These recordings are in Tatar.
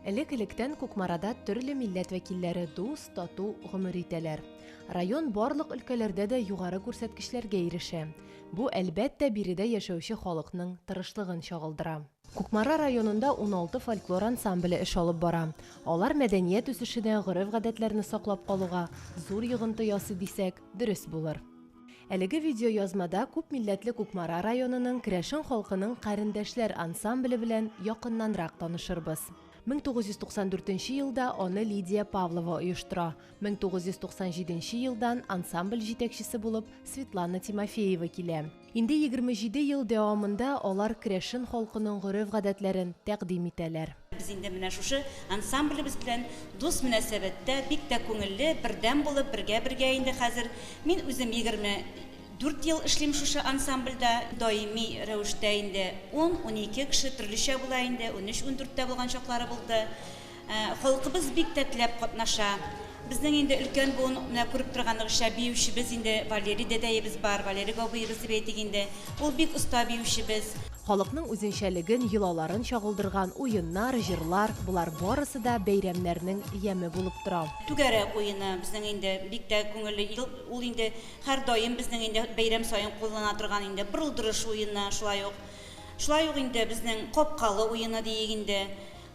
Элек-электән Кукмарада төрле милләт вәкилләре дус, тату гомер итәләр. Район барлык өлкәләрдә дә югары күрсәткечләргә ирешә. Бу, әлбәттә, биредә яшәүче халыкның тырышлыгын чагылдыра. Кукмара районында 16 фольклор ансамбле эш алып бара. Алар мәдәният үсешенә, гореф-гадәтләрне саклап калуга зур йогынты ясый дисәк, дөрес булыр. Әлеге видеоязмада күпмилләтле Кукмара районының керәшен халкының Карендәшләр ансамбле белән якыннанрак танышырбыз. 1994 елда аны Лидия Павлова оештыра, 1997 елдан ансамбль җитәкчесе булып Светлана Тимофеева килә. Инде 27 ел дәвамында алар керәшен халкының гореф-гадәтләрен тәкъдим итәләр. Без инде менә шушы ансамблебез белән дус мөнәсәбәттә, бик тә күңелле, бердәм булып, бергә-бергә инде хәзер. Мин үзем егерме дүрт ел эшлим шушы ансамбльдә. Даими рәвештә инде ун-унике кеше, төрлечә була инде, унөч-ундүрт тә булган чаклары булды. Халкыбыз бик тә теләп катнаша. Безнең инде өлкән буын, менә күреп торганыгызча, биючебез инде Валерий дәдәебез бар, Валерий бабыебыз дип әйтик инде. Ул бик оста биючебез. Халыкның үзенчәлеген, йолаларын чагылдырган уеннар, җырлар, болар барысы да бәйрәмнәрнең яме булып тора. Түгәрәк уены безнең инде бик тә күңелле, ел ул инде һәрдаим безнең инде бәйрәм саен куллана торган инде бырылдырыш уены, шулай ук, шулай ук инде безнең капкалы уены диик инде,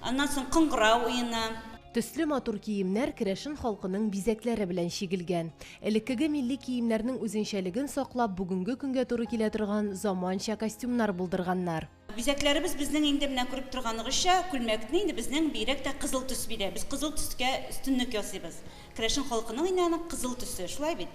аннан соң кыңгырау уены. Төсле матур киемнәр керәшен халкының бизәкләре белән чигелгән. Элеккеге милли киемнәрнең үзенчәлеген саклап, бүгенге көнгә туры килә торган заманча костюмнар булдырганнар. Бизәкләребез безнең инде менә күреп торганыгызча, күлмәкне инде безнең бигрәк тә кызыл төс бирә. Без кызыл төскә өстенлек ясыйбыз. Керәшен халкының инде аның кызыл төсе, шулай бит?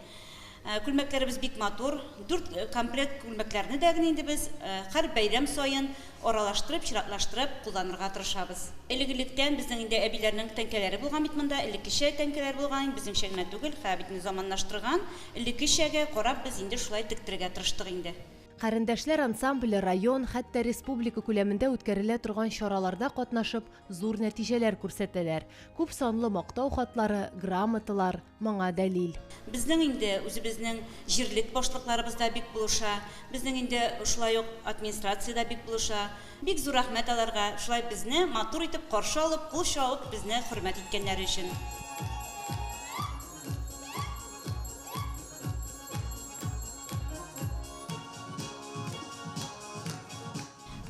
Күлмәкләребез бик матур. Дүрт комплект күлмәкләрне дә генә инде без һәр бәйрәм саен аралаштырып, чиратлаштырып кулланырга тырышабыз. Элек-электән безнең инде әбиләрнең тәңкәләре булган бит монда, элеккечә тәңкәләр булган, безнеңчә генә түгел, һәр битне заманлаштырган, элеккечәгә карап без инде шулай тектерергә тырыштык инде. Карендәшләр ансамбле район, хәтта республика күләмендә үткәрелә торган чараларда катнашып, зур нәтиҗәләр күрсәтәләр, күп санлы мактау хатлары, грамоталар, моңа дәлил. Безнең инде үзебезнең җирлек башлыкларыбыз да бик булыша, безнең инде шулай ук администрация дә бик булыша. Бик зур рәхмәт аларга, шулай безне матур итеп каршы алып, кул чабып, безне хөрмәт иткәннәре өчен.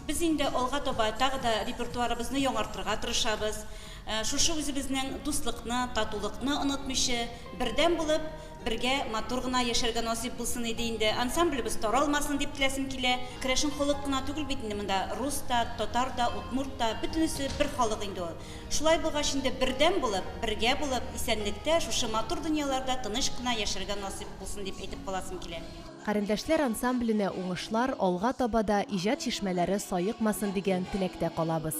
Без инде алга таба тагы да репертуарыбызны яңартырга тырышабыз. Шушы үзебезнең дуслыкны, татулыкны онытмыйчы, бердәм булып, бергә матур гына яшәргә насыйп булсын иде инде. Ансамблебыз таралмасын дип теләсем килә. Керәшен халык кына түгел бит инде монда, рус та, татар да, удмурт та, бөтенесе бер халык инде ул. Шулай булгач инде бердәм булып, бергә булып, исәнлектә, шушы матур дөньяларда тыныч кына яшәргә насыйп булсын дип әйтеп каласым килә. Карендәшләр ансамбленә уңышлар, алга таба да иҗат чишмәләре саекмасын дигән теләктә калабыз.